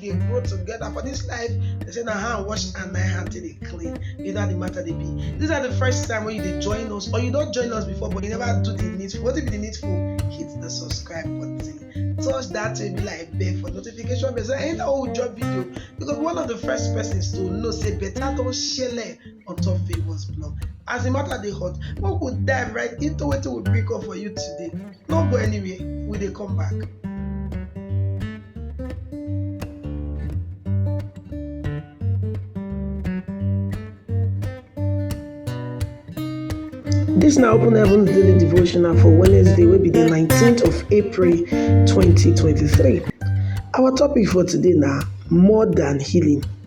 dey grow together for this life they say na hand wash and na hand take dey clean you know how the matter dey be this na the first time wey you dey join us or you don join us before but you never do the needful wetin be the needful hit the subscribe button touch that baby like bell for notification bell so anytime wey we drop video you go be one of the first persons to know say better don shele on top favours blog as the matter dey hot make we dive right into wetin we bring come for you today no go anywhere we dey come back. Dis na Open Heavens Daily Devotional for Wednesday wey be di 19th of April 2023. Our topic for today na more than healing.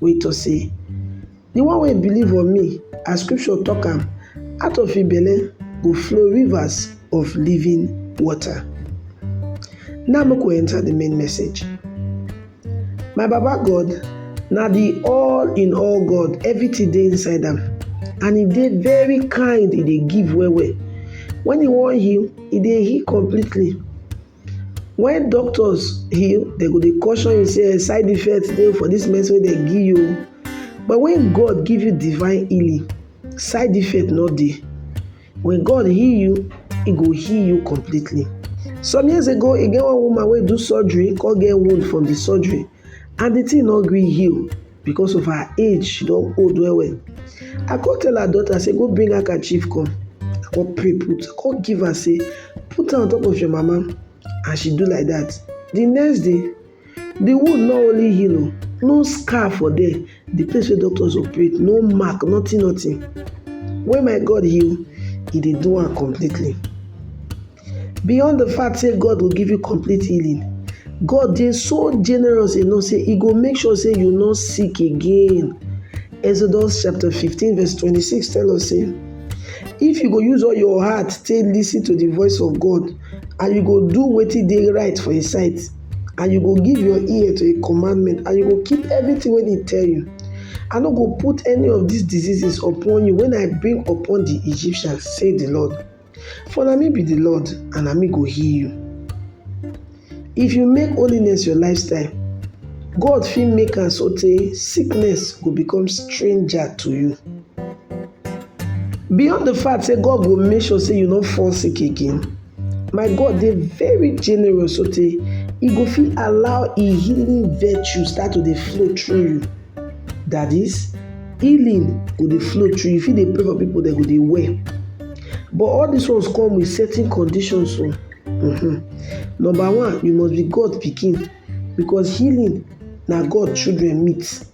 wey tok sey, Di one wey believe on me, as scripture tok am, out of im belle go flow rivers of living water. Now make we enter di main message. My Baba God na di all in all God, everytin dey inside am and e dey very kind, e dey give well well. Wen e wan heal, e dey heal completely. When doctors heal, dem go dey caution you say side effects dey for this medicine wey dem give you o. But when God give you divine healing, side effect no dey. When God heal you, e go heal you completely. Some years ago, e get one woman wey do surgery come get wound from the surgery and the thing no gree heal. because of her age she don old well well i come tell her daughter say go bring handkerchief come i come pray put i come give her say put am on top of your mama and she do like that the next day the wound not only heal o no scar for there the place where doctors operate no mark nothing nothing when my god heal he dey do am completely Beyond the fact say God go give you complete healing, God dey so generous enough say He go make sure say you no sick again. Exodus chapter 15 verse 26 tell us say, If you go use all your heart take listen to the voice of God, and you go do wetin dey right for His sight, and you go give your ear to His commandment, and you go keep everything wey He tell you, I no go put any of these diseases upon you when I bring upon the Egyptians, say the Lord. For na me be di Lord and na me go heal you. If you make holiness your lifestyle, God fit make am sotey sickness go become stranger to you. Beyond di fact sey God go make sure sey you no fall sick again, my God dey very generous sotey e go fit allow im healing virtue start to dey flow through you. That is, healing go dey flow through you. If you dey pray for people, they go dey well. But all these ones come with certain conditions. So, mm-hmm. number one, you must be God picking because healing now God children meet.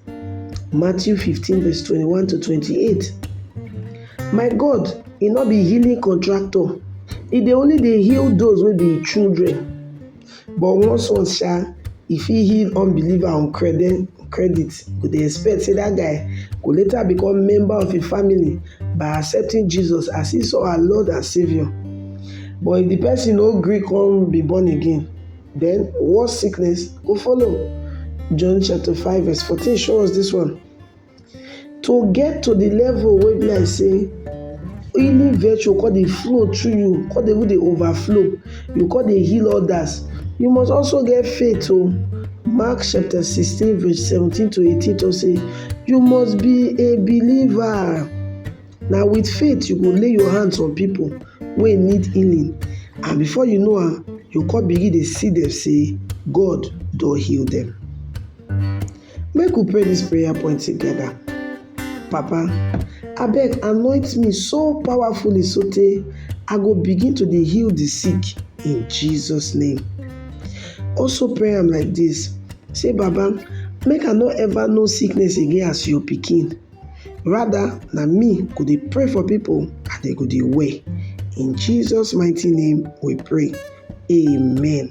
Matthew 15, verse 21 to 28. My God, he not be healing contractor. He dey only dey heal those wey be children. But once once sha, e fit heal unbeliever on creden credit go dey expect sey dat guy go later become member of im family by accepting Jesus as his or her Lord and Saviour. But if de person no gree come be born again, den worse sickness go follow. John chapter five verse fourteen show us dis one. to get to the level wey be like say healing virtue come dey flow through you, come dey even dey overflow, you come dey heal others, you must also get faith o. Mark chapter sixteen verse seventeen to eighteen talk say, you must be a believer. Na with faith you go lay your hands on people wey need healing and before you know am, you come begin dey see dem say God don heal dem. Make we pray this prayer point together. Papa, I beg anoint me so powerfully so tey I go begin to dey heal the sick in Jesus name. Also pray am like this, say Baba make I no ever know sickness again as your pikin rather na me go dey pray for people and they go dey well. In Jesus mighty name we pray, amen.